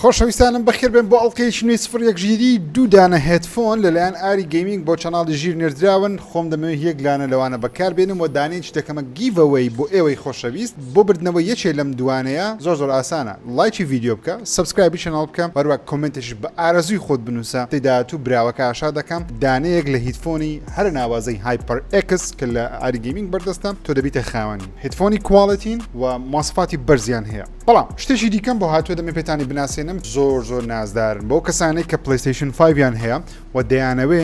خۆشەویستانم بەخێر بێن بۆ ئەڵقەیەکی نوێی سفر یەک ژیری دوو دانە هێدفۆن لەلایەن ئاری گەیمینگ بۆ چەناڵی ژیر نێردراون خۆم دەمەوێ یەک لانە لەوانە بەکار بێنم وە دانەیەکی دەکەمە گیڤ ئەوەی بۆ ئێوەی خۆشەویست بۆ بردنەوەی یەکێ لەم دوانەیە زۆر زۆر ئاسانە ڵایکی ڤیدیۆ بکە سەبسکرایبی چەناڵ بکە وە هەروەک کۆمێنتێکیش بە ئارەزووی خۆت بنووسە هەفتەی داهاتوو براوەکە ئاشا دەکەم دانەیەک لە هیدفۆنی هەرە ناوازەی هایپەر ئێکس کە لە ئاری گەیمینگ بەردەستە تۆ دەبیتە خاوەنی هیدفۆنی کواڵێتین وە مۆسەفاتی بەرزیان هەیە. بەڵام شتێکی دیکەم بۆ هاتووە دەمێ پێتانی بناسێنم زۆر زۆر نازدارن بۆ کەسانێک کە پلیستیشن 5یان هەیە و دەیانەوێ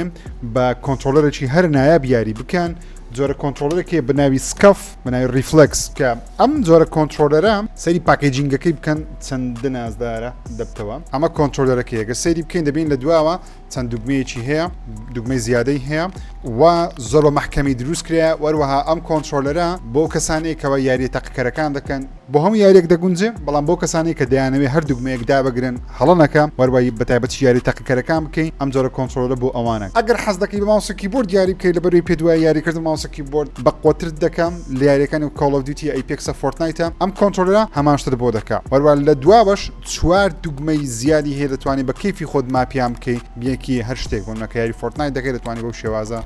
بە کۆنتترۆلەرێکی هەر نایاب یاری بکەن جۆرە کۆنتترۆلەرێکی بناوی سکەف بناوی ریفلکس کە ئەم جۆرە کۆنتترۆلەرە سەری پاکەیجینگەکەی بکەن چەند نازدارە دەبتەوە ئەمە کۆنتترۆلەرەکە یەگە سەیری بکەین دەبین لە دواوە چەند دوگمەیەکی هەیە دوگمەی زیادەی هەیە و زۆر بە محکەمی دروست کرێ وەروەها ئەم کۆنتترۆلەرە بۆ کەسانێکەوە یاریە تەقکەرەکان دەکەن بۆ هەموو یاریەک دەگونجێ بەڵام بەو کەسانەی کە دەیانەوێ هەر دوگمەیەک دابگرن هەڵە نەکە وەروای بە تایبەتیش یاری تاقیکەرەکان بکەی ئەم جۆرە کۆنترۆلە بۆ ئەوانە. ئەگەر حەز دەکەی بە ماوس و کیبۆرد یاری بکەی لەبەروی پێت وایە یاری کردن بە ماوس و کیبۆرد بە قۆترت دەکا لە یاریەکانی وەک کۆڵ ئۆف دیوتیە ئەیپێکسە فۆرتنایتە ئەم کۆنترۆلەرە هەمان شتت بۆ دەکا وەروا لە دواوەش چوار دوگمەی زیادی هەیە دەتوانی بە کەیفی خۆت ماپیان بکەی بیەکی هەر شتێک بۆ نمونە کە یاری فۆرتنایت دەکەی دەتوانی بەو شێوازە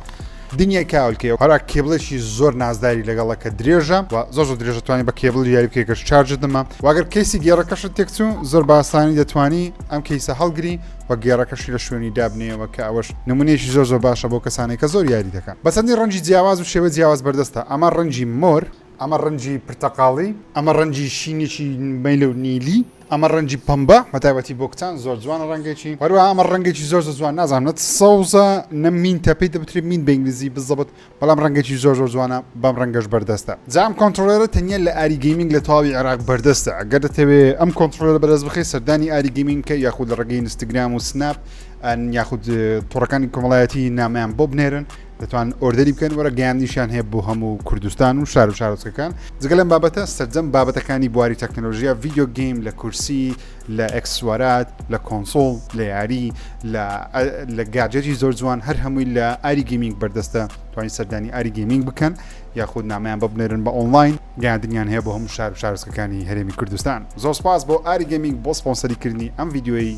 دنیای کاول کێ هەرا کێبڵێکی زۆر نازداری لەگەڵە کە درێژە و زۆر زۆر درێژە توانی بە کێبڵ یاری بکەی گەر شارژت نەما واگەر کەیسی گێڕەکەشت تێکچوو زۆر باسانی دەتوانی ئەم کەیسە هەڵگری و گێڕەکەشی لە شوێنی دابنێەوە کە ئەوەش نمونەیەکی زۆر زۆر باشە بۆ کەسانێک کە زۆر یاری دەکەن بەسەندی ڕەنجی جیاواز و شێوە جیاواز بەردەستە ئەمە ڕەنجی مۆر ئەمە ڕەنجی پرتەقاڵی. ئەمە ڕەنجی شینێکی مەیلە و نیلی. ئەمە ڕەنجی پەمبە، بەتایبەتی بۆ کچان زۆر جوانە ڕەنگێکی. هەروەها ئەمە ڕەنگێکی زۆر زۆر جوان نازانم نە سەوزە نە مینتە پێی دەوترێت مینت بە ئینگلیزی بزەبت بەڵام ڕەنگێکی زۆر زۆر جوانە بەم ڕەنگەش بەردەستە. جا ئەم کۆنتڕۆڵەرە تەنیا لە ئاری گەیمینگ لە تەواوی عێراق بەردەستە ئەگەر دەتەوێت ئەم کۆنتڕۆڵەرە بەدەست بخەیت سەردانی ئاری گەیمینگ بکە یاخود لە ڕێگەی ئینستاگرام و سناپ یاخود تۆڕەکانی کۆمەڵایەتی نامەیان بۆ بنێرن دەتوان ئۆردەری بکەن وەرە گەیاندنیشیان هەیە بۆ هەموو کوردستان و شار و شارۆچکەکان جگە لەم بابەتە سەرجەم بابەتەکانی بواری تەکنەلۆژیا ڤیددیو گەیم لە کورسی لە ئەکسوارات لە کۆنسۆڵ لە یاری لە گاجێتی زۆر جوان هەر هەمووی لە ئاری گەمینگ بەردەستە توانین سەردانی ئاری گەمینگ بکەن یاخود نامیان ببنێرن بە ئۆنلاین گەاندنیان هەیە بۆ هەموو شار و شارسکەکانی هەرێمی کوردستان زۆر سپاس بۆ ئاری گەمینگ بۆ سپۆنسەری کردنی ئەم یددیوی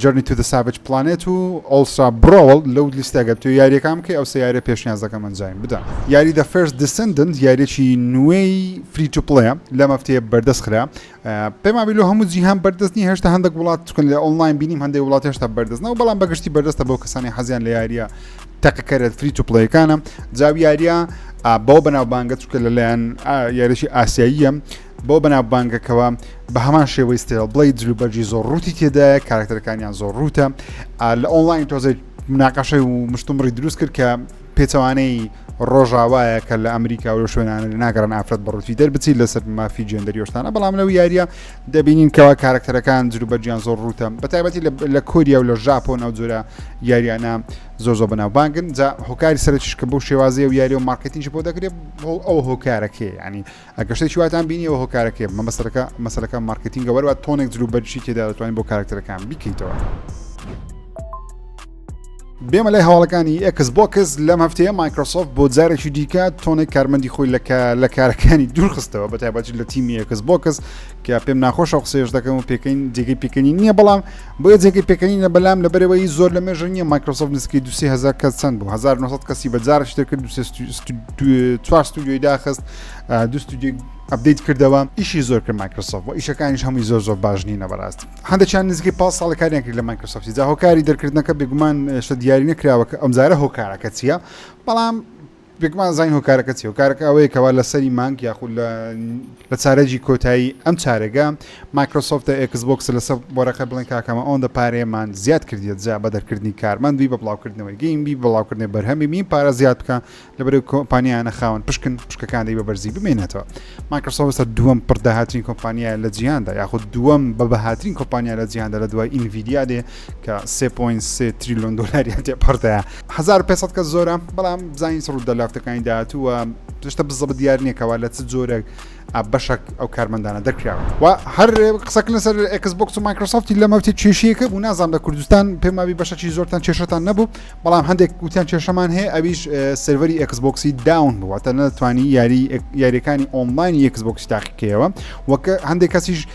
Journey to the Savage Planet و Ultra Brawl لەو لیستە گەر بتوێ یاریەکان بکەی ئەو سێ یاریە پێشنیاز دەکەم ئەنجایم بدە یاری The First Descendant یاریەکی نوێی فری تو پڵەیە لەم هەفتەیە بەردەست خرا پێمابی لۆ هەموو جیهان بەردەست نی هێشتا هەندێک وڵات چکن لە ئۆنلاین بینیم هەندێک وڵات هێشتا بەردەست نەوە بەڵام بەگشتی بەردەستە بۆ کەسانی حەزیان لە یاریە تەقیکەرێت فری تو پڵەیەکانە جاویاریە بەو بەناوبانگە چکە لەلایەن یاریی ئاسیاییە بەو بەناوبانگەکەوە بە هەمان شێوەی ستێڵ بڵی جلوبەرجی زۆر ڕووتی تێدایە کارکتەرەکانیان زۆر ڕووتە لە ئۆنلاین تۆزێک مناقەشەی و مشتمڕی دروست کرد کە پێچەوانەی ڕۆژاوایە کە لە ئەمریکا و شوێنانە ناگەڕن ئافرەت بەڕوتی دەربچیت لەسەر مافی جێندەریۆشتانە بەڵام لەو یاریە دەبینین کەوا کارکتەرەکان جروبەرجیان زۆر ڕوتە بەتایبەتی لە کۆریا و لە ژاپۆن ئەو جۆرە یاریانە زۆر زۆر بەناوبانگن جا هۆکاری سەرچش کە بۆ شێوازی و یاری و مارکتینش بۆ دەکرێت ئەو هۆکارەکەی ینی ئەگەر شتێکی واتان بینی ئەوە هۆکارەکەی مەبەستەکە مەسەلەکە مارکتینگە وەرەوە تۆنێک جلو بەرشی تێدا دەتوانین بۆ کارکتەرەکان بیکەیتەوە. بێمە لای هەواڵەکانی ئەکس بۆکس لەم هەفتەیە مایکرۆسۆفت بۆ جارێکی دیکە تۆنێک کارمەندی خۆی لە کارەکانی دوورخستەوە بە تایبەتی لە تیمی ئەکس بۆکس کە پێم ناخۆشە قسێش دەکەم و پێکەین جێگەی پێکەنی نییە بەڵام بۆیە جێگەی پێکەنینە بەلام لەبەرەوەی زۆر لە مێژە نییە مایکرۆسۆفت نزیکەی دو هزار کەس چەند بوو 1900 کەسی بە جارش تێکرد چوار ستودیۆی داخست دو ستودیۆی ئەبدەیت کردەوە ئیشی زۆر کرد مایکرۆسۆف و ئیشەکانیش هەمووی زۆر زۆر باش نینە بەڕاستی هەندێکیان نزیکەی پاس ساڵ کاریان کرد لە مایکرۆسۆفتی جا هۆکاری دەرکردنەکە بێگومان شە دیاری نەکراوە کە ئەمزارە هۆکارەکە چییە بەڵام بێگومان زین هۆکارەکە چیە؟ هۆکارەکە ئەوەیە کەوا لە سەری مانگ یاخود لە لە چارەجی کۆتایی ئەم چارەگە مایکرۆسۆفتە ئێکس بۆکس لەسەر بۆرەقە بڵێن کاکەمە ئەوەندە پارەیەمان زیاد کردیە جا بە دەرکردنی کارمەند بی بە بڵاوکردنەوەی گەیم بی بڵاوکردنی بەرهەمی مین پارە زیاد بکە لەبەر کۆمپانیانە خاون پشکن پشکەکانی بە بەرزی بمێنێتەوە مایکرۆسۆفتە دووەم پڕداهاترین کۆمپانیا لە جیهاندا یاخود دووەم بە بەهاترین کۆمپانیا لە جیهاندا لە دوای ئینڤیدیا دێ کە سێ پوین سێ تریلیۆن دلاریان تێپەرتەیە هزار پێ کەس زۆرە بەڵام بزانین سڕ دە لافتەکانی داهاتووە پشتە بزە بە دیار نیەکەوە لە چ جۆرێک بەشک ئەو کارمەندانە دەکراوە و هەر قسەکە لەسەر ئەکسبکس و مایکرۆسافتی لە مەوتی کێشیەکە بوو نازان لە کوردستان پێماوی بەشەکی زۆرتان کێشتان نەبوو بەڵام هەندێک گوتیان کێشەمان هەیە ئەویش سەروەری ئەکسبکسی داون بووە تە نەتوانی یاری یاریەکانی ئۆنلاینی ئەکسبکس تاقیکەوە وەکە هەندێک کەسیش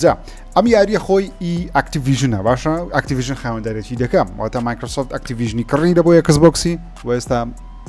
جا ئەم یاریە خۆی ئی ئەکتیڤژنە باشە ئەکتیڤژن خاوەندارێتی دەکەم واتە مایکرۆسۆفت ئەکتیڤژنی کڕی دەبوو یەکس بۆکسی و ئێستا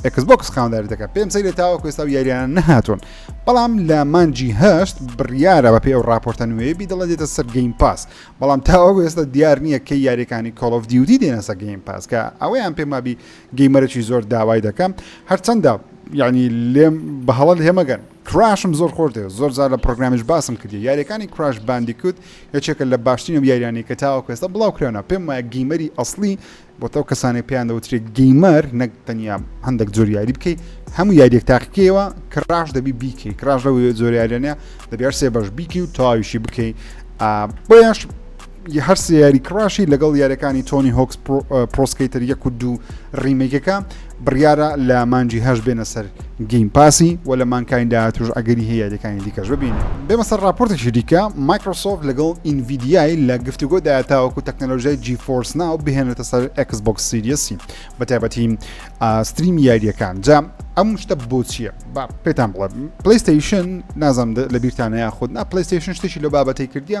ئەکس بۆکس خاوەنداری دەکە پێم سەیرە تاوە کوێستا و یاریان نەهاتون بەڵام لە مانجی هەشت بڕیارە بە پێ ئەو راپۆرتە نوێ بیدڵە دێتە سەر گەیم پاس بەڵام تاوە کوێستا دیار نییە کە یاریەکانی کۆڵف دیوتی دێنەسە گەیم پاس کە ئەوەیان پێمابی گەیمەرەی زۆر داوای دەکەم هەرچەندە یعنی لێم بە هەڵە لێمەگەن کراشم زۆر خۆش دەوێت زۆر جار لە پڕۆگرامیش باسم کردیە یاریەکانی کراش باندیکوت یەکێکە لە باشترین و یاریانی کە تاوە کوێستە بڵاو کرێنە پێم وایە گیمەری ئەسلی بۆ تەو کەسانی پێیان دەوترێت گیمەر نەک تەنیا هەندێک زۆر یاری بکەیت هەموو یاریێک تاقیکەوە کراش دەبی بیکەی کراش لە زۆر یاریانە دەبیار سێ بەش بیکی و تاویشی بکەیت بۆیش ی هەر سێ یاری کڕاشی لەگەڵ یاریەکانی تۆنی هۆکس پرۆسکەیتەر یەک و دوو ڕیمێکەکە بڕیارە لە مانجی هەش بێنە سەر گەیم پاسی و لە مانکاین داهاتوش ئەگەری هەیە یاریەکانی دیکەش ببین بێمە سەر راپۆرتێکی دیکە مایکرۆسۆف لەگەڵ ئینڤیدیای لە گفتوگۆ داهاتاوەکو و تەکنەلۆژای جی فۆرس ناو بهێنێتە سەر ئەکس بۆکس سیریەسی بە تایبەتی ستریم یاریەکان جا ئەم شتە بۆ چییە با پێتان بڵێ پلیستیشن نازم لە بیرتانە یاخود نا پلیستیشن شتێکی لە بابەتی کردیە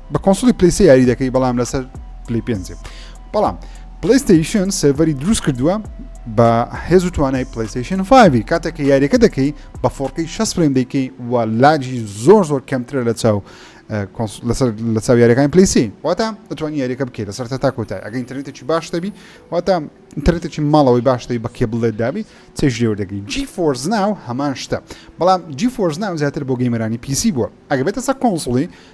بە کۆنسڵی پلیسی یاری دەکەی بەڵام لەسەر پلی پێ بەڵام پلیستیشن سێڤەری دروست کردووە بە هێز و توانای پلیستیشن 5 کاتێک کە یاریەکە دەکەی بە فۆڕکەی 6 فرێن دەکەی و لاجی زۆر زۆر کەمترە لە چاو لەسەر لە چاو یاریەکان پلیسی واتە دەتوانانی یاریەکە بکەیت لەسەر تا کۆتای ئەگە ئینترنێتێکی باش دەبی واتە ئینترنێتێکی ماڵەوەی باش دەی بە کێبڵێت دابی چێژ لێوە دەگەی جی فۆرز ناو هەمان شتە بەڵام جی فۆرز ناو زیاتر بۆ گەیمەرانی پیسی بووە ئەگە بێتە سەر کۆنسڵی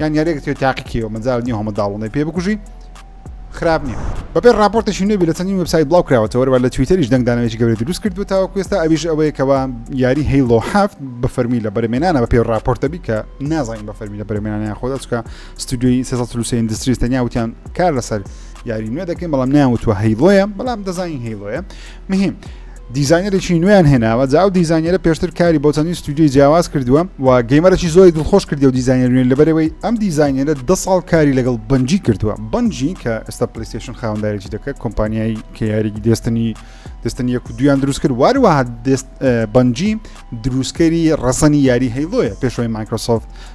یان یارێک تێ تاقیکەوە مەجال نیە هەمە داڵونەی پێ بکوژی خراپ نییە بەپێ راپۆرتێکی نوێبی لە چەندین وبسای بڵاو کراوەتەوەەوە لە تویتەریش دەنگدانەوەی گەورە دروست کردو تاوە کوێستا ئەویش ئەوەیە کەوا یاری هەیڵۆ هەفت بە فەرمی لە بەرمێنانە بە پێ راپۆرتەبی کە نازانین بە فەرمی لە بەرمێنانیان خۆدا چکە ستودیوی سەسەلوسی ئەندستریس تەنیا وتیان کار لەسەر یاری نوێ دەکەین بەڵام نیان وتوە هەیڵۆیە بەڵام دەزانین هەیڵۆیە مهیم دیزاینەرێکی نوێیان هێناوە جا ئەو دیزانیرە پێشتر کاری بۆ چەندین ستودیوی جیاواز کردووە و گەیمەرەی زۆری دڵخۆش کردی و دیزانەر نوێن لەبەرەوەی ئەم دیزانیرە دە ساڵ کاری لەگەڵ بنجی کردووە بنجی کە ئێستا پلیستشن خاوەندارێکی دەکە کۆمپانیایی کە یاریی دەستنی دەستنی یەک دویان دروست کرد واروە بنجی دروستکەری ڕەسەنی یاری هەیڵۆیە پێشەوەی مایکرۆسۆفت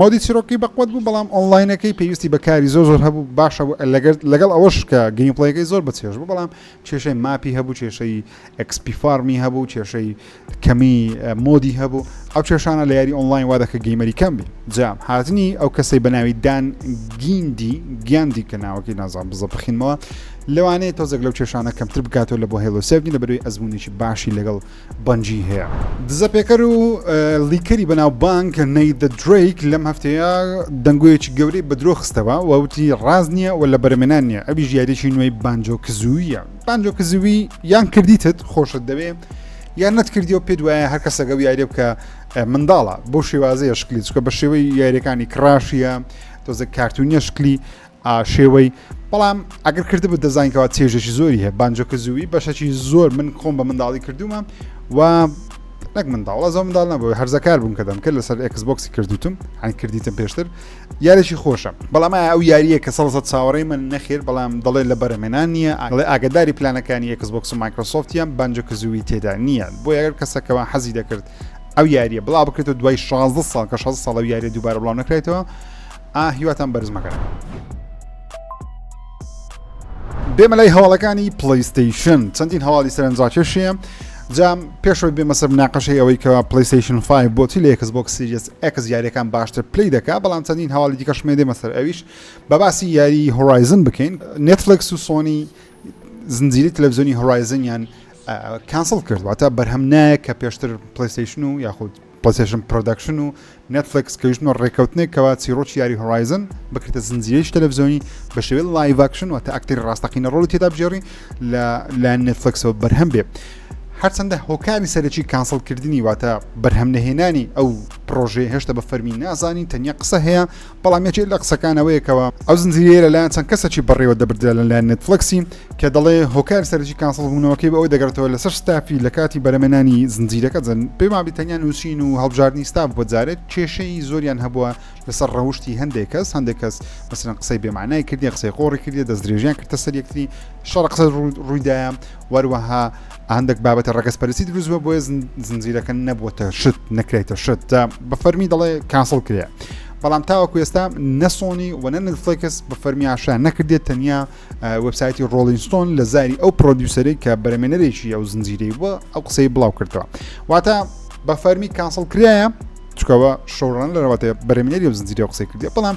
مۆدی چیرۆکەکەی بەقوەت بوو بەڵام ئۆنلاینەکەی پێویستی بە کاری زۆر زۆر هەبوو باشە لەگەڵ ئەوەش کە گەیمپڵەیەکەی زۆر بەچێژ بوو بەڵام کێشەی ماپی هەبوو کێشەی ئەکسپی فارمی هەبوو کێشەی کەمی مۆدی هەبوو ئەو کێشانە لە یاری ئۆنلاین وا دەکە گەیمەری کەم بی جام هاتنی ئەو کەسەی بە ناوی دان گیندی گیاندی کە ناوەکەی نازان بزە بخینمەوە لەوانەیە تۆزێک لەو کێشانە کەمتر بکاتەوە لە بۆ هێڵۆسێبگین لە بەروی ئەزمونێکی باشی لەگەڵ بەنجی هەیە. دزە پێکەر و لیکەری بەناوبانگ نەیدە درەیک لەم هەفتەیە دەنگۆیەکی گەورەی بە درۆ خستەوە و وتی ڕاست نییە و لەبەرەمێنان نییە ئەویش یاریەکی نوێی بانجۆ کزوویە بانجۆ کزووی یان کردیتت خۆشت دەوێ یان نەتکردی و پێت وایە هەر کەسەگە و یاریە بکە منداڵە بۆ شێوازەیە شکلی چکە بە شێوەی یاریەکانی کڕاشیە تۆزە کارتونیە شکلی ئا شێوەی بەڵام ئەگەر کردبوو دەزان کەوا چێژێکی زۆری هەیە بانجۆکە زووی بەشەکی زۆر من خۆم بە منداڵی کردومە و نەک منداڵە زۆ منداڵ نەبوو هەرزەکار بووم کە دەمکرد لەسەر ئەکسبکسی کردوتم هەن کردیتم پێشتر یاریشی خۆشە بەڵام ئەو یاریە کە سەڵسە چاوەڕێ من نەخێر بەڵام دەڵێ لە بەرەمێنان نییە ئەڵێ ئاگداری پلانەکانی ئەکسبکس و مایکرۆسۆفتیان بانجۆ کە زووی تێدا نییە بۆ یاگەر کەسەکەەوە حەزی دەکرد ئەو یاریە بڵا بکرێتەوە دوای 16 ساڵ کە 16 ساڵ و یاریە دووبارە بڵاو نەکرێتەوە ئا هیواتان بەرز مەکەن. بێمە لای هەواڵەکانی پلیستیشن چەندین هەواڵی سەرنجڕاکێشیە جام پێشەوەی بێمە سەر ناقەشەی ئەوەی کە پلیستیشن 5 بۆچی لە یەکس بۆک سیریس ئەکس یاریەکان باشتر پلی دەکا بەڵام چەندین هەواڵی دیکە شمێ دێمە سەر ئەویش بە باسی یاری هۆرایزن بکەین نێتفلکس و سۆنی زنجیری تەلەڤزیۆنی هۆرایزنیان کانسڵ کردواتە بەرهەم نایە کە پێشتر پلیستیشن و یاخود پلەیستەیشن پرۆدەکشن و نێتفلێکس کە ویستوە ڕێکەوتنێک کەوا چیڕۆکی یاری هۆرایزن بکرێتە زنجیرەیەکی تەلەڤزیۆنی بە شێوەی لایڤ ئاکشن واتە ئەکتەری ڕاستەقینە ڕۆڵی تێدا بگێڕی لە لایەن نێتفلێکسەوە بەرهەم بێ هەرچەندە هۆکاری سەرەکی کانسڵکردنی واتە بەرهەم نەهێنانی ئەو پرۆژەیە هێشتا بە فەرمی نازانین تەنیا قسە هەیە بەڵام یەکێک لە قسەکان ئەوەیە کەوا ئەو زنجیرەیە لەلایەن چەند کەسێکی بەڕێوە دەبردرا لەلایەن نێتفڵێکسی کە دەڵێ هۆکاری سەرەکی کانسڵبوونەوەکەی بە ئەوە دەگەڕێتەوە لەسەر ستافی لە کاتی بەرەمێنانی زنجیرەکە جەن پێم وابێ تەنیا نووسین و هەڵبژاردنی ستاف بووە جارێک کێشەی زۆریان هەبووە لەسەر ڕەوشتی هەندێک کەس هەندێک کەس مەسەرەن قسەی بێمانای کردی قسەی قۆڕی کردی دەست درێژیان کردە سەر یەکتری شەڕ قسە ڕوویدایە وەروەها هەندەک بابەتە ڕەگەزپەرستی دروست بووە بۆیە زنجیرەکە نەبووتە شت نەکرێتە شت جا بە فەرمی دەڵێ کاسڵ کرێ بەڵام تاوەکو ئێستا نەسۆنی و نە نفلکس بە فەرمی ئاشان نەکردێت تەنیا وبسایتی ڕۆلینستۆن لە زاری ئەو پرۆدیوسەری کە بەرەمێنەرێکی ئەو زنجیرەی بووە ئەو قسەی بڵاو کردەوە واتە بە فەرمی کاسڵ کرایە چکەوە شەڕان لەەوەێ بەرەمێنەری و زنجیرە قسەی کردێ بەڵام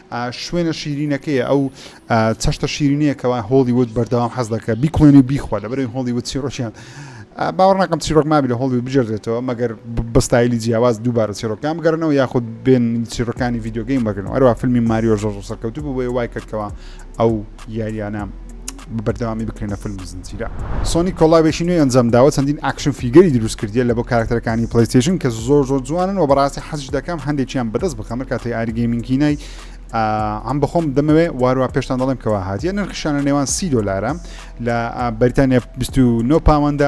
شوێنە شیرینەکەیە ئەو چەشتە شیرینەیە کەوا هۆڵیوود بەردەوام حەز دەکە بیکڵێنی بیخوا لەبەرەوەی هۆڵیوود چیرۆکیان باوەڕ ناکەم چیرۆک مابی لە هۆڵیوود بجێدرێتەوە مەگەر بەستایلی جیاواز دووبارە چیرۆکیان بگەرنەوە یاخود بێن چیرۆکانی یددیوگەیم بەگەنەوە ئەروە فیلمی ماریۆ ژۆژ سەرکەوتوو بوو بۆی وای کردکەوە ئەو یاریانە بەردەوامی بکرێنە فلم زنجیرە سۆنی کۆڵاوێکی نوێی ئەنجامداوە چەندین ئاکشن فیگەری دروست کردیە لە بۆ کارکتەرەکانی پلیستیشن کە زۆر زۆر جوانن و بەڕاستی حەزش دەکەم هەندێکیان بەدەست بخەمە کاتی ئاری گەیمینکینای ئەم بەخۆم دەمەوێ وارووا پێشتان دەڵێم کەوا هااتە نرخشانە نێوان سی دلارە لە بەریتانیا 29 پاوەندە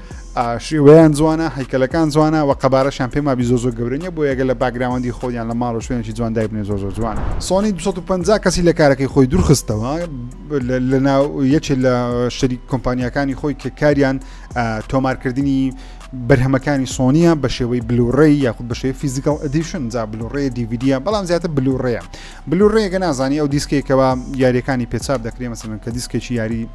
شێوەیان جوانە هەیکەلەکان جوانە و قەبارەشان پێ مابی زۆ زۆر گەورە نیە بۆ یەگە لە باگراوەندی خۆیان لە ماڵ و شوێنێکی جوان دایبنێ زۆ زۆر جوانە سۆنی 250 کەسی لە کارەکەی خۆی دوورخستەوە لە ناو یەکێ لە شەری کۆمپانیەکانی خۆی کە کاریان تۆمارکردنی بەرهەمەکانی سۆنیە بە شێوەی بلوڕێ یاخود بە شێوی فیزیکال ئەدیشن جا بلوڕێ دیVیدە بەڵام زیاتر بلوڕێە بلوڕێگە نازانی ئەو دیسکێکەوە یاریەکانی پێچاپ دەکرێ مەسەن کە دیسکێکی یاری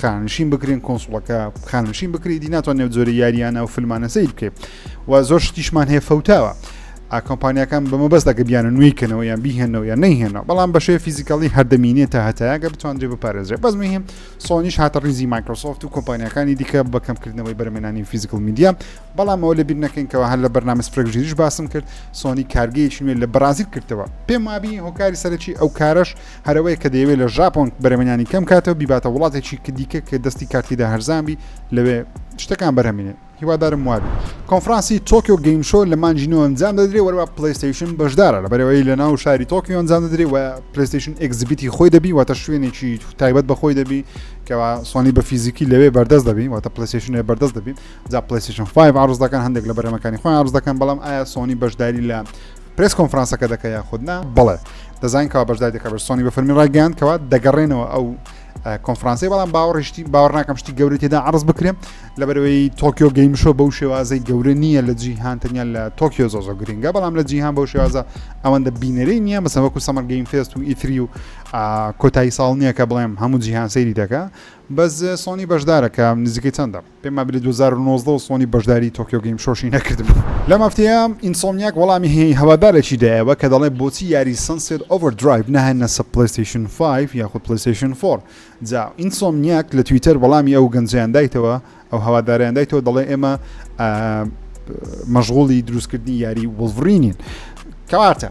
خانشین بکرین کۆنسڵەکە خانشین بکری دی ناتوان نێو زۆری یاریانە و فلمانە سیر بکەیت و زۆر شتیشمان هەیە فەوتاوە ئاکۆمپانیەکان بەمە بەس دەکە بیانە نوێی کەنەوە یان بیهێنەوە یان نەیهێنە بەڵام بەشێ فیزیکەڵی هەردەمینێت تا هەتایەکە بتواندرێ بپارێزرێ بەس مهم سۆنیش هاتە ریزی مایکرۆسۆفت و کۆمپانیەکانی دیکە بە کەمکردنەوەی بەرمێنانی فیزیکل میدیا بەڵام ئەوە لە بیر نەکەینکەوە هەر لە بەرنامە سپرێکژیریش باسم کرد سۆنی کارگەیەکی نوێ لە بەرازیل کردەوە پێم وابی هۆکاری سەرەکی ئەو کارش هەر ئەوەیە کە دەیەوێت لە ژاپۆن بەرەمێنانی کەم کاتەوە بیباتە وڵاتێکی کە دیکە کە دەستی کارتیدا هەرزان بی لەوێ شتەکان بەرهەمینێ هیوادارم وابی کۆنفرانسی تۆکیۆ گەیم شۆ لە مانجی نۆ ئەنجام دەدرێ وەروە پلیستیشن بەشدارە لە بەرەوەی لە ناو شاری تۆکیۆ ئەنجام دەدرێ و پلیستیشن ئەگزبیتی خۆی دەبی واتە شوێنێکی تایبەت بەخۆی دەبی کەوا سوانی بە فیزیکی لەوێ بەردەست دەبی واتە پلیستیشنێ بەردەست دەبی جا پلیستیشن 5 عرض دەکەن هەندێک لە بەرەمەکانی خۆیان عرض دەکەن بەڵام ئایا سۆنی بەشداری لە پرێس کۆنفرانسەکە دەکە یاخود نا بڵێ دەزانین کەوا بەشدای دەکە بەر سۆنی بە فەرمی ڕایگەیان کەوا دەگەڕێنەوە ئەو کۆنفرانسی بەڵام باوەڕشتی باوەڕ ناکەم شتی گەوری تێدا عرض بکرێن لە بەرەوەی تۆکیۆ گەیمشۆ بەو شێوازەی گەورە نییە لە جیهان تەنیا لە تۆکیۆ زۆ زۆ گرنگە بەڵام لە جیهان بەو شێوازە ئەوەندە بینەرەی نییە مەسەوەکو سەمەر گەیم فێست و ئیتری و کۆتایی ساڵ نییە کە بڵێم هەموو جیهان سەیری دەکە بەس سۆنی بەشدارەکە نزیکەی چەندە پێم وابێ لە دوو هەزار و نۆزدە سۆنی بەشداری تۆکیۆ گەیم شۆشی نەکردبوو. لەم هەفتەیە ئینسۆمنیاک وەڵامی هەوادارێکی دایەوە کە دەڵێت بۆچی یاری سەنسێت ئۆڤەر درایڤ نەهێننەسە پلەیستەیشن فایڤ یاخود پلەیستەیشن فۆر؟ جا ئینسۆمنیاک لە تویتەر وەڵامی ئەو گەنجەیان دایتەوە ئەو هەوادارەیان دایتەوە دەڵێ ئێمە مەشغوڵی دروستکردنی یاری وڵڤرینین کەواتە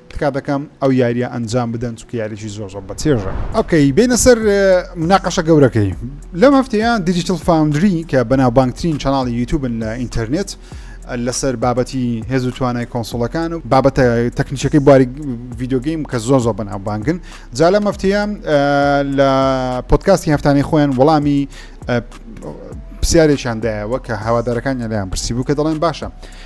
تکا دەکەم ئەو یاریە ئەنجام بدەن چونکە یاریی زۆر زۆر بەچێژە. ئۆکەی بێینە سەر مناقەشە گەورەکەی لەم هەفتەیە دیجیتل فاوندری کە بەناوبانگترین چەناڵی یوتوبن لە ئینتەرنێت لەسەر بابەتی هێز و توانای کۆنسڵەکان و بابەتە تەکنیشەکەی بواری ڤیددیوگەیم کە زۆر زۆر بەناوبانگن جا لە مەفتەیە لە پۆتکاستی هەفتانەی خۆیان وەڵامی پرسیارێکیاندایەوە کە هاوادارەکان یالیان پرسی بوو کە دەڵێن باشە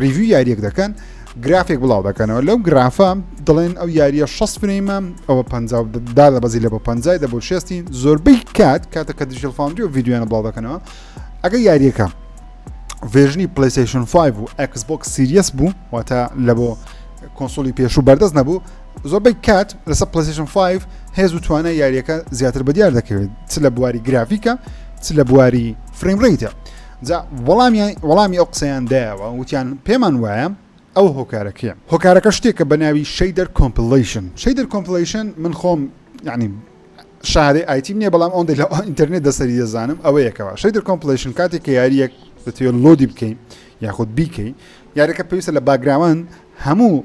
ریڤیو یاریەک دەکەن گرافێک بڵاو دەکەنەوە لەو گرافە دڵێن ئەو یاریە 6 فرەیمە ئەوە پ دادە بەزی لە بە پ دە بۆ شێستی زۆربەی کات کاتە کە دیژل فاندری و یددیویانە بڵاو دەکەنەوە ئەگە یاریەکە ڤێژنی پلیسیشن 5 و ئەکسبک سیریەس بوو واتە لە بۆ کۆنسۆلی پێشوو بەردەست نەبوو زۆربەی کات لەسە پلیسیشن 5 هێز و توانە یاریەکە زیاتر بە دیار دەکەوێت چ لە بواری گرافیکە چ لە بواری فریم ڕیتە جا وەڵامیان وەڵامی ئەو قسەیان دایەوە وتیان پێمان وایە ئەو هۆکارە کێ هۆکارەکە شتێکە بە ناوی شەیدەر کۆمپلەیشن شەیدەر کۆمپلەیشن من خۆم یعنی شارەی ئایتیم نییە بەڵام ئەوەندەی لە ئینتەرنێت دەسەری دەزانم ئەوە یەکەوە شەیدەر کۆمپلەیشن کاتێک کە یاریەک دەتوێت لۆدی بکەین یاخود بیکەین یاریەکە پێویستە لە باگراوان هەموو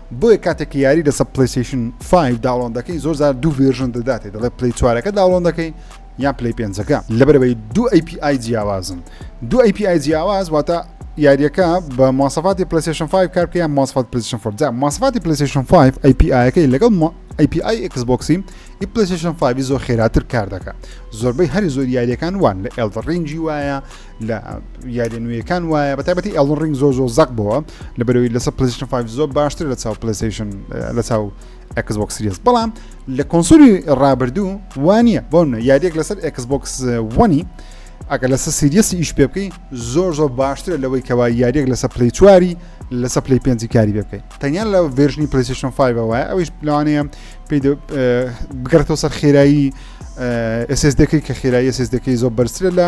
بۆیە کاتێک یاری لەسەر پلیسیشن 5 داڵۆن دەکەین زۆر زار دوو ڤێژن دەداتێ دەڵێ پلی چوارەکە داڵۆن دەکەین یان پلی پێنجەکە لەبەرەوەی دوو API جیاوازن دوو API جیاواز واتە یاریەکە بە ماسەفاتی پلیسیشن 5 کار بکە یان ماسفات پلیسیشن 4 جا ماسفاتی پلیسیشن 5 API-ەکەی لەگەڵ API Xbox-ی ئی پلیسیشن 5 زۆر خێراتر کار دەکە زۆربەی هەری زۆر یاریەکان وان لە ئێلدە ڕینجی وایە لە یاریە نوێیەکان وایە بە تایبەتی ئەڵون ڕنگ زۆر زۆر زەق بووە لە بەرەوەی لەسە پلیشن 5 زۆر باشتر لە چاو پلیسیشن لە چاو ئەکس بۆکس سریس بەڵام لە کۆنسولی ڕابردوو وانە بۆن یاریەک لەسەر ئەکس بۆکس وەنی ئەگەر لەسە سریەسی ئیش پێ بکەی زۆر زۆر باشترە لەوەی کەوا یاریەک لەسە پلی چواری لەسە پلی پێنجی کاری بێ بکەیت تەنیا لە ڤێژنی پلیسیشن 5 وایە ئەوش لەوانەیە پێ بگەڕێتەوە سەر خێرایی ئەسێس دەکەی کە خێرایی ئەسێس دەکەی زۆر بەرزترە لە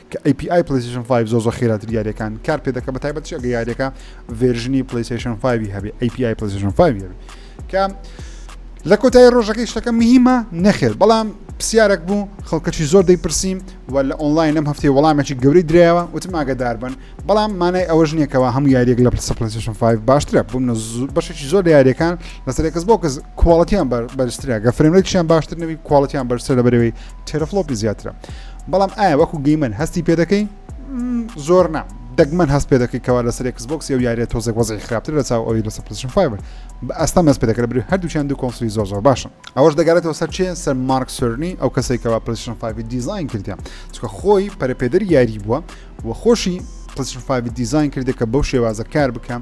کە ئەی پی ئای پلەیستەیشن فایڤ زۆر زۆر خێراتر یاریەکان کار پێ دەکە بە تایبەت چێگە یاریەکە ڤێرژنی پلەیستەیشن فایوی هەبێ ئەی پی ئای پلەیستەیشن فایوی هەبێ کە لە کۆتایی ڕۆژەکەی شتەکە مهمە نەخێر بەڵام پرسیارێک بوو خەڵکەکی زۆر دەیپرسیم و لە ئۆنلاین لەم هەفتەی وەڵامێکی گەوری درایەوە وتم ئاگدار بن بەڵام مانای ئەوەش نییەکەوە هەموو یاریێک لە پرسپلسیشن 5 باشترە بووم بەشێکی زۆر لە یاریەکان لەسەر کەس بۆ کەس کوواڵەتیان بەرزترە گە فرێنێکیان باشتر نەوی کوواڵەتیان بەرسە لە بەرەوەی تێرۆفلۆپی زیاترە بەڵام ئایا وەکو گەیمەر هەستی پێدەکەی زۆر نام دەگمەن هەست پێ دەکەی کەوا لەسەر کسبکسی و یاریە تۆزێک وەزی خراپتر لە چاو ئەوی لەسەر پلشن فایبر بە ئەستا مەس پێ دەکرێت بری هەردووچیان دوو کۆنسلی زۆر زۆر باشن ئەوەش دەگەێتەوە سەر چێن سەر مارک سرنی ئەو کەسێکەوە پلشن فایبی دیزین کردیان چکە خۆی پەرپێدەر یاری بووە و خۆشی پلشن فایبی دیزین کردێکە بەو شێوازە کار بکەم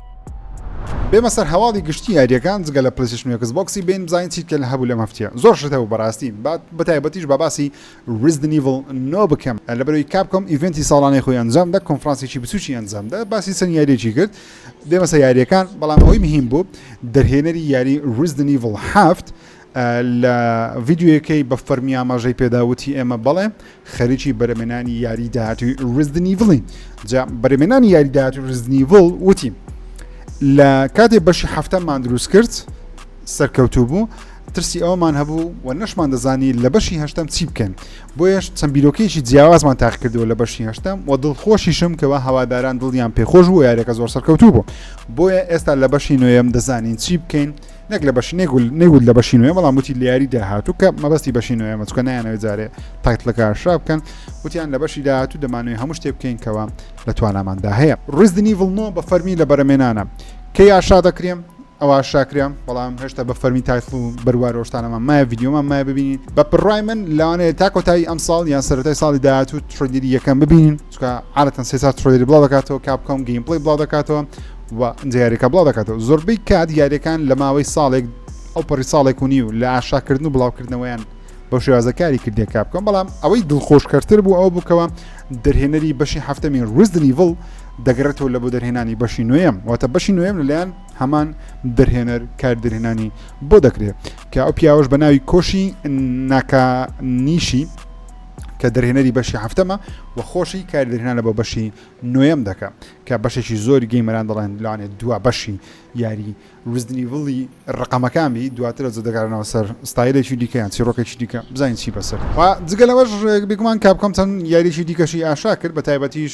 بێمە سەر هەواڵی گشتی یاریەکان جگە لە پلیسشن وکس بۆکسی بین بزانین چیتکە لە هەبوو لەم هەفتە زۆر شتە و بەڕاستی بات بەتایبەتیش بە باسی ریزدنیڤل نۆ بکەم لە بەروی کاپکۆم ئیڤنتی ساڵانەی خۆی ئەنجام دە کۆنفرانسێکی بچوکی ئەنجامدا باسی چەند یاریێکی کرد بێمەسە یاریەکان بەڵام ئەوی مهم بوو دەرهێنەری یاری ریزدنیڤل هەفت لە ڤیدیۆیەکەی بە فەرمی ئاماژەی پێدا وتی ئێمە بەڵێ خەریکی بەرەمێنانی یاری داهاتوی رزدنیڤڵی جا بەرەمێنانی یاری داهاتوی رزدنیڤڵ وتی لە کاتێ بەشی هەفتەمان دروست کرد سەرکەوتوو بوو ترسی ئەومان هەبوو و نەشمان دەزانی لە بەشی هەشتم چی بکەن بۆیش چەند بیرۆکەیەکی جیاوازمان تاقکردەوە لە بەشی هەشتم و دڵخۆشیشم کەەوە هەواداران دڵیان پێخۆش بوو یارەکە زۆر سەرکەوتوو بوو بۆیە ئێستا لە بەشی نوێم دەزانین چی بکەین نەک لە بەش نێگول نەیوت لە بەشی نوێ بەڵام وتی لیاری داهاتوو کە مەبەستی بەشی نوێ مەچکە نایانەوەی جارێ تایتلەکە شا بکەن وتیان لە بەشی داهاتوو دەمانوێ هەموو شتێ بکەین کەەوە لە تواناماندا هەیە ڕزدنی ڤڵنۆ بە فەرمی لە بەرەمێنانە کە یاشا دەکرێم ئەوە شاکرێم بەڵام هێشتا بە فەرمی تایتل و بەروار ۆشتانەمان مایە یددیومان مای ببینین بە پڕای من لاوانەیە تا کۆتایی ئەم ساڵ یان سەرەتای ساڵی داهاتوو تڕگیری یەکەم ببینین چکە عادەتەن سێ چار ترۆیری بڵاو دەکاتەوە کاپکۆم گەیم پڵی بڵاو دەکاتەوە و دیارەکە بڵاو دەکاتەوە زۆربەی کات یاریەکان لە ماوەی ساڵێک ئەو پەڕی ساڵێک و نیو لە ئاشاکردن و بڵاوکردنەوەیان بۆ شێوازەکاری کردێک کا بکەم بەڵام ئەوەی دڵخۆشکەرتر بوو ئەو بکەوە دەرهێنەری بەشی هەفتەمی ڕزدنیڤڵ دەگەڕێتەوە لە بۆ دەرهێنانی بەشی نوێم واتە بەشی نوێم لەلایەن هەمان دەرهێنەر کار دەرهێنانی بۆ دەکرێت کە ئەو پیاوەش بە ناوی کۆشی ناکانیشی کە دەرهێنەری بەشی هەفتەمە و خۆشی کار دەرهێنانە بۆ بەشی نوێم دەکە کە بەشێکی زۆری گەیمەران دەڵێن لەوانێت دوا بەشی یاری رزدنیڤڵی ڕقەمەکان بی دواتر زۆ دەگەرانەوە سەر ستایلێکی دیکەیان چیرۆکێکی دیکە بزانین چی بەسەر و جگەلەوەش بگومان کاپکۆم چەند یاریی دیکەشی ئاشا کرد بە تایبەتیش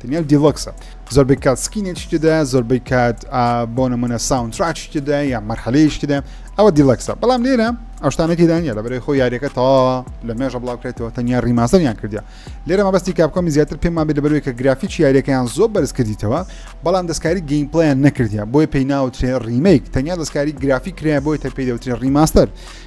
تەنیا دیلۆکسە زۆربەی کات سکینێکی تێدایە زۆربەی کات بۆ نمونە ساونتراکی تێدایە یا مەرحەلەیەکی تێدایە ئەوە دیلەکسە بەڵام لێرە ئەوشتانە تێدانە لە بەرەی خۆ یاریەکە تەواوە لە مێژە بڵاوکرێتەوە تەنیا ریماسەریان کردیا لێرە مەبەستی کاپکۆمی زیاتر پێم مابێت لەبەروی کە گرافیکی یاریەکەیان زۆر بەرز کردیتەوە بەڵام دەستکاری گەیمپلیان نەکردیا بۆی پێی ناوترێ ریمیک تەنیا دەستکاری گرافی کرایە بۆی تە پێی دەوترێ ریماستەر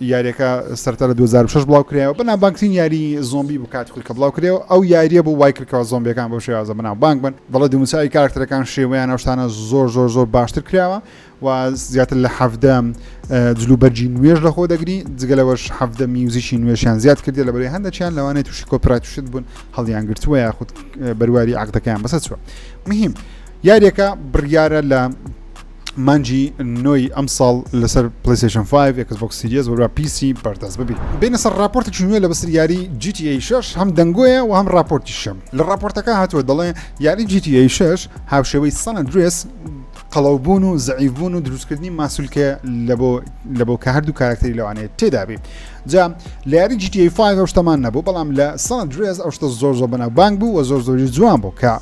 یاریەکە سەرەتا لە دوو هەزار و شەش بڵاو کرایەوە بەناوبانگترین یاری زۆمبی بوو کاتی خۆی کە بڵاو کرێەوە ئەو یاریە بوو وای کردکەوە زۆمبیەکان بەو شێوازە بەناوبانگ بن دەڵێ دیموچاوی کارکتەرەکان شێوەیان ئەو شتانە زۆر زۆر زۆر باشتر کراوە و زیاتر لە حەفدە جلوبەرجی نوێژ لە خۆ دەگری جگە لەوەش حەفدە میوزیکی نوێشیان زیاد کردی لە بەرەی هەندەکیان لەوانێت تووشی کۆپراتوشت بوون هەڵیان گرتووە یاخود بەرواری عقدەکەیان بەسەر چوە مهم یاریەکە بڕیارە لە مانگی نۆی ئەمساڵ لەسەر پلیسشن 5 ئەکس بۆکس سیریز وەرا پیسی بەردەست ببی بینە سەر راپۆرتێکی نوێ لە بەسەر یاری GTA 6 هەم دەنگۆیە و هەم راپۆرتی شەم لە راپۆرتەکە هاتووە دەڵێ یاری GTA 6 هاوشێوەی سەن درێس قەڵەوبوون و زعیبوون و دروستکردنی ماسولکە لە بۆ کە هەردوو کارکتەری لەوانەیە تێدابی جا لە یاری GTA 5 ئەو شتەمان نەبوو بەڵام لە سەن درێس ئەو شتە زۆر زۆر بەناو بانگ بوو و زۆر زۆری جوان بوو کە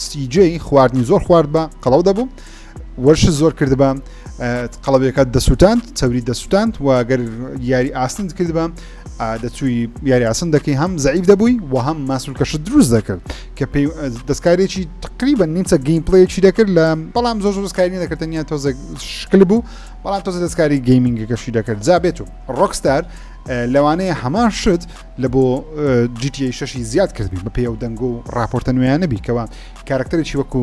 سیجێ خواردنی زۆر خوارد بە قەڵەو دەبوو وەرشت زۆر کردبا قەڵەبەکەت دەسووتاند چەوری دەسووتاند و گەر یاری ئاسند کردبا دەچووی یاری ئاسن دەکەی هەم زعیب دەبووی و هەم ماسولکەشت دروست دەکرد کە پێی دەستکارێکی تقریبا نیمچە گەیم پلەیەکی دەکرد لە بەڵام زۆر دەستکاری دەکردنیا تۆزە شکل بوو بەڵام تۆزە دەستکاری گەیمنگەکەشی دەکرد جا بێت و ڕۆکستار لەوانەیە هەمان شت لە بۆ جیتی شەشی زیاد کردبی بە پێ و دەنگۆ و راپۆرتە نوێیانەبی کەەوە کارکتەرێکی وەکو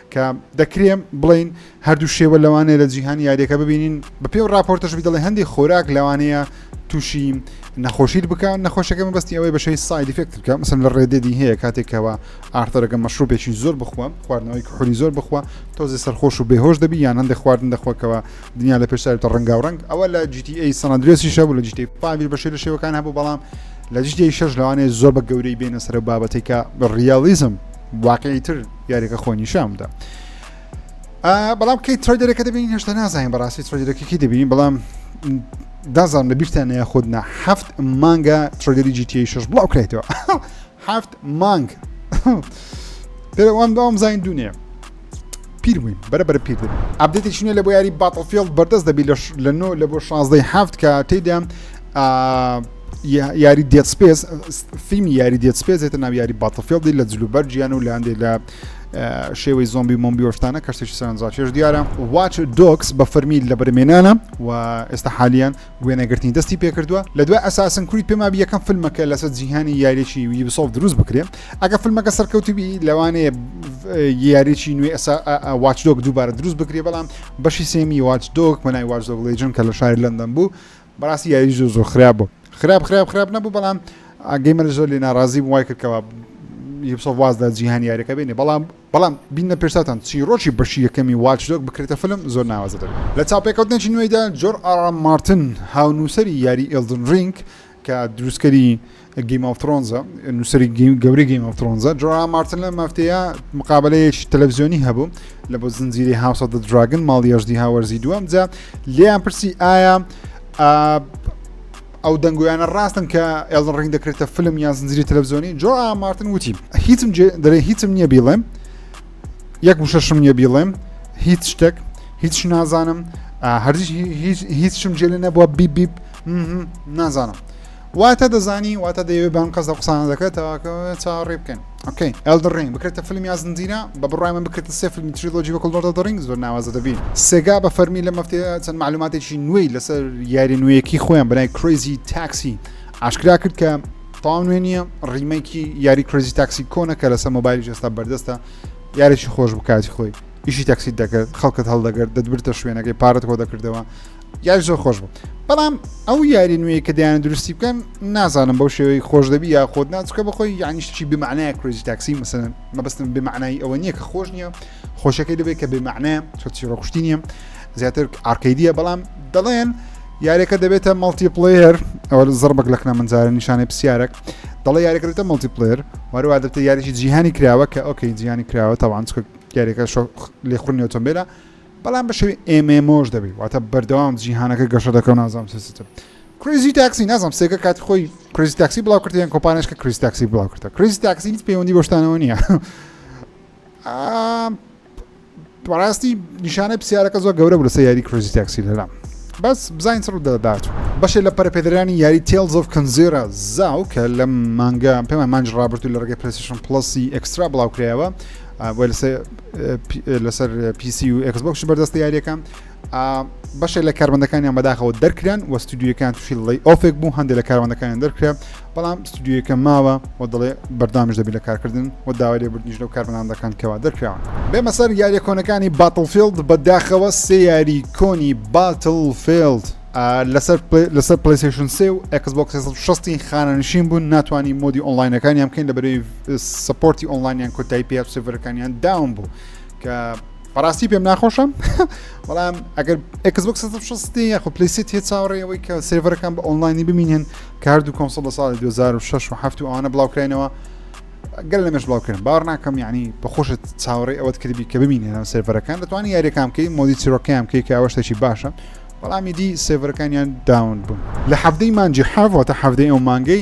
کە دەکرێ بڵێین هەردوو شێوە لەوانەیە لە جیهانی یاریەکە ببینین بەپێ و راپۆرتەشبی دەڵێ هەندی خۆراک لەوانەیە تووشی نەخۆشیت بکە نەخۆشەکە مەبستی ئەوەی بەشەی سایدیفێکت بکە مثل لە ڕێدێدی هەیە کاتێکەوە ئارتەرەکە مەشروبێکی زۆر بخوە خواردنەوەی کوحلی زۆر بخوە تۆزی سەرخۆش و بێهۆش دەبی یان هەندێک خواردن دەخواکەوە دنیا لە پێشتاوتە ڕەنگا و ڕنگ ئەوە لە GTA سەنادرێسی شەبوو لە جیتی پاویل بەشێ لە شێوەکان هەبوو بەڵام لە جیتی شەش لەوانێ زۆر بە گەورەی بێنە سەر بابەتێکە بە ڕیالیزم واقعی تر یاریەکە خۆ نیشان بدە بەڵام کەی ترۆیدەرەکە دەبین هێشتا نازانین بەڕاستی ترۆیدەکەکی دەبین بەڵام دازان لە بیرتان نە خودنا هەفت مانگە ترۆدەری جیتی شش بڵاو کرێتەوە هەفت مانگ پێوان داوام زین دونێ پیر بووین بەرە بەرە پیر دەبین ئابدێتی شنێ لە بۆ یاری باتڵفیلد بەردەست دەبی لە نۆ لە بۆ شازدەی هەفت کە تێدا یاری دێت سپێس فیلمی یاری دێت سپێس هێتە ناو یاری باتەفێڵدی لە جلوبەر گیان و لاندێ لە شێوەی زۆمبی مۆمبیۆشتانە کەشتێکی سەرنجڕاکێش دیارە واچ دۆکس بە فەرمی لە بەرمێنانە و ئێستا حالیان وێنەگرتنی دەستی پێکردووە لە دوای ئەساسن کوری پێما یەکەم فیلمەکە لەسەر جیهانی یاریێکی ویبسۆف دروست بکرێ ئەگە فیلمەکە سەرکەوتبی لەوانەیە یاریێکی نوێ ئەسا واچدۆک دووبارە دروست بکرێ بەڵام بەشی سێمی واچدۆک مەنای واچدۆک لەجن کە لە شاری لەندەن بوو بەڕاستی یاری زۆر زۆر خراپ بوو خراپ خراپ خراپ نەبوو بەڵام ئاگەیمەر زۆر لێ ناڕازی بوو وای کرد کەەوە یبسە وازدا جیهان یاریەکە بینێ بەڵام بەڵام بینە پێشتان چیرۆکی بەشی یەکەمی واچدۆک بکرێتە فلم زۆر ناوازە دەبێت لە چاپێکەوتنێکی نوێیدا جۆر ئارام مارتن هاونووسری یاری ئلدن رینگ کە دروستکەری گیم ئۆف ترۆنزە نووسری گەوری گیم ئۆف ترۆنزە جۆرا مارتن لە مافتەیە مقابلەیەکی تەلەڤزیۆنی هەبوو لە بۆ زنجیری هاوسە دە دراگن ماڵی ێژدی هاوەرزی دووەم جا لێیان پرسی ئایا ئەو دەنگویانە ڕاستن کە ئێڵن ڕنگ دەکرێتە فلم یان زنجری تەلەڤزیۆنی جۆ مارتن وتی هیچم دەێ هیچم نییە بیڵێم یەک وشەشم نیە بیڵێم هیچ شتێک هیچ نازانم هەرزیش هیچم جێلێ نەبووە بیبیب نازانم واتە دەزانی واتە دەیەوێت بەم قەزە قسانە دەکرێت تاواکە چاڕێ بکەن ئۆکەی ئەلدە ڕنگ بکرێتە فیلم یا زنجیرە بە بڕای من بکرێتە سێ فیلمی تریلۆجی وەکڵ لۆردە دەڕنگ زۆر ناوازە دەبین سێگا بە فەرمی لە مەفتێ چەند معلوماتێکی نوێی لەسەر یاری نوێیەکی خۆیان بەای کرۆزی تاکسی ئاشکرا کرد کە تاو نوێ نییە ڕیمەکی یاری کرۆزی تاکسی کۆنە کە لەسەر مۆبایلی جستا بەردەستە یارێکی خۆش بکاتی خۆی ئیشی تاکسیت دەکرد خەڵکت هەڵدەگرت دەدبرتە شوێنەکەی پارەت کۆ دەکردەوە یاری زۆر خۆش بوو بەڵام ئەو یاری نوێی کە دەیان درستی بکەن نازانم بەو شێوەی خۆش دەبی یا خۆت ناچکە بەخۆی یانیشتی بمانایە کرێزی تاکسی مەسەن مەبستم بمانایی ئەوە نییە کە خۆش نییە خۆشەکەی دەبێت کە بمانە چۆچی ڕۆخشتی نییە زیاتر ئارکەیدیە بەڵام دەڵێن یارەکە دەبێتە مەڵتی پلەیەر ئەوە زڕبک لەکنە منزارە نیشانەی پرسیارێک دەڵێ یاریکردە مەڵتی پلەر وارەوا دەبێت یاریی جیهانی کراوە کە ئۆکەی جیهانی کراوە تاوان چکە یاریەکە لێخونی ئۆتۆمبیلە بەڵام بە شێوی MMO ش دەبی واتە بەردەوام جیهانەکە گەشە دەکەم نازام سیستم کریزی تاکسی نازم سێگە کاتی خۆی کریزی تاکسی بڵاو کرد یان کۆپانش کە کریز تاکسی بڵاو کردە کریزی تاکسی هیچ پەیوەندی بەشتانەوە نییە بەڕاستی نیشانە پرسیارەکە زۆر گەورە بوو لەسەر یاری کریزی تاکسی لەلام بەس بزانین سڕ دەدات بەشێ لە پەرپێدرانی یاری تێل زۆف کنزێرە زاو کە لە مانگە پێمان مانج ڕابرد و لە ڕگەی پرسیشن پلسی ئەکسترا بڵاوکرایەوە بۆ لەسەر لەسەر پیسی و ئەکسبکش بەردەستە یاریەکە بەشێک لە کارمەندەکانیان بەداخەوە دەرکران و ستودیوەکان تووشی ڵی ئۆفێک بوو هەندێک لە کارمەندەکانیان دەرکرا بەڵام ستودیوەکە ماوە و دەڵێ بەردامیش دەبی لە کارکردن و داوای لێ بردنیش لەو کارمەندان دەکەن کەوا دەرکراوە بێمە سەر یاریە کۆنەکانی باتڵفیلد بەداخەوە سێ یاری کۆنی باتل فیلد لەسەر لەسەر پلیسشن سێ و ئەکسبک 16 خانەنشین بوون ناتوانانی مۆدی ئۆنلاینەکانیان بکەین لە بەرەی سپۆرتی ئۆنلاینیان کۆتایی پێ سڤەرەکانیان داوم بوو کە بەڕاستی پێم ناخۆشم بەڵام ئەگەر ئەکسبک سستی یاخو پلیسی تێ چاوەڕێەوەی کە سێڤەرەکان بە ئۆنلاینی بمینێن کار و کۆمسە لە ساڵی 2006 و هەفت و ئەوانە بڵاوکراینەوە گەل لەمەش بڵاوکردن باوەڕ ناکەم یعنی بەخۆشت چاوەڕێ ئەوەت کردبی کە بمینێنەوە سێڤەرەکان دەتوانانی یاریەکان کەی مۆدی چیرۆکەیان کەی کە ئەوەشتێکی باشە بەڵامی دی سێڤەرەکانیان داون بوون لە حەفتەی مانجی حاوەتە حەفتەی ئەو مانگەی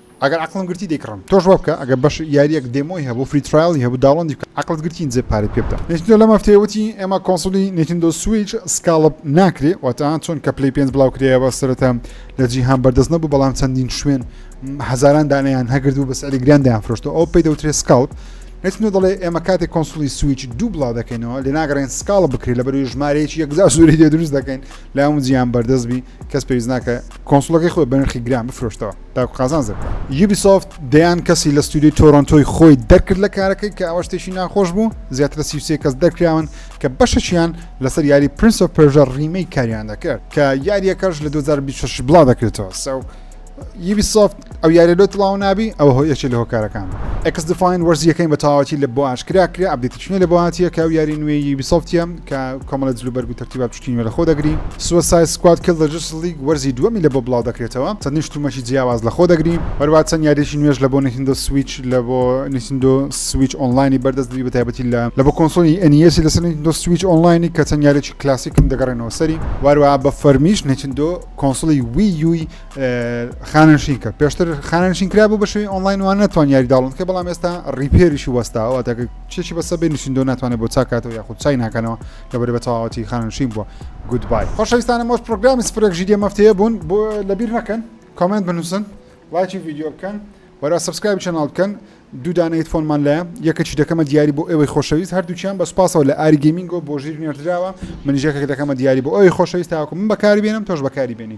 ئەگەر عەقڵم گرتی دەیکڕم تۆش وابکە ئەگەر بەش یاریەک دێمۆی هەبوو فری ترایڵی هەبوو داوڵۆندی بکە عەقڵت گرتی ئینجا پارەی پێ بدە نینتندۆ لەم هەفتەیە وتی ئێمە کۆنسوڵی نینتندۆ سویچ سکاڵپ ناکرێ واتە چۆن کە پلەی پێنج بڵاو کرایەوە سەرەتا لە جیهان بەردەست نەبوو بەڵام چەندین شوێن هەزاران دانیان هەگردوو بە سعری گران دەیان فرۆشتەوە ئەو پێی دەوترێت سکاڵپ نتنۆ دەڵێ ئێمە کاتێک کۆنسولی سویچ دوو بڵاو دەکەینەوە لە ناگەڕێن سکاڵ بکرێت لە بەروی ژمارەیەکی یەکزار زۆری دێ دروست دەکەین لا هەموو جیان بەردەست بی کەس پێویست ناکە کۆنسلەکەی خۆی بەنرخی گران بفرۆشتەوە تاکو قازانج دەربکات. یوبیسۆفت دەیان کەسی لە ستۆدیۆی تۆرۆنتۆی خۆی دەرکرد لە کارەکەی، کە ئەوە شتێکی ناخۆش بوو، زیاتر لە سی و سێ کەس دەرکراون کە بەشێکیان لەسەر یاری Prince of Persia Remake کاریان دەکرد، کە یارییەکەش لە دوو هەزار و بیست و شەش بڵاودەکرێتەوە. سەو یوبیسۆفت ئەو یارییە لۆ تڵاو نابی، ئەوە هۆ یەکێک لە هۆکارەکان بوو. XDefiant وەرزی یەکەمی بە تەواوەتی لە بۆ ئاشکرا کرا، ئەپدەیتی شوێن لە بۆهاتیە کە ئەو یاری نوێی یوبیسۆفتیە کە کۆمەڵە جل و بەرگ و تەرتیبا بچوکی نوێ لەخۆ دەگری سوسای سکواد کیڵ دە جستس لیگ وەرزی دووەمی لە بۆ بڵاو دەکرێتەوە چەندین شتومەکی جیاواز لەخۆ دەگری هەروەها چەند یاریەکی نوێش لە بۆ نینتندۆ سویچ لە بۆ نینتندۆ سویچ ئۆنلاینی بەردەست دەبی بە تایبەتی لە لە بۆ کۆنسۆلی ئەنیەسی لەسەر نینتندۆ سویچ ئۆنلاینی کە چەند یاریەکی کلاسیکن دەگەڕێنەوە سەری وهەروەها بە فەرمیش نینتندۆ کۆنسۆڵی وی یوی خانەنشین کرد پێشتر خانەنشین کرا بوو بە شوی ئۆنلاین وان ناتوان یاری داڵن کە بەڵام ئێستا ڕیپێریشی وەستاوە تاکە چێکی بەسە بێ نووسندۆ ناتوانێت بۆ چاکاتەوە یاخود چای ناکەنەوە کە بەرە بە تەواوەتی خانەنشین بووە گودبای خۆشەویستانە مۆش پرۆگرامی سفرێک ژیدە مەفتەیە بوون بۆ لەبیر نەکەن کامنت بنووسن لایکی ویددیو بکەن وەرا سبسکرایب چناڵ بکەن دوو دانەیت فۆنمان لە یەکەچی دەکەمە دیاری بۆ ئێوەی خۆشەویست هەردووچیان بە سپاسەوە لە ئاری گەمینگۆ بۆ ژیر نێردراوە منیژەکە دەکەمە دیاری بۆ ئەوی خۆشەویست تاکو من بەکاری بێنم تۆش بەکاری بێنی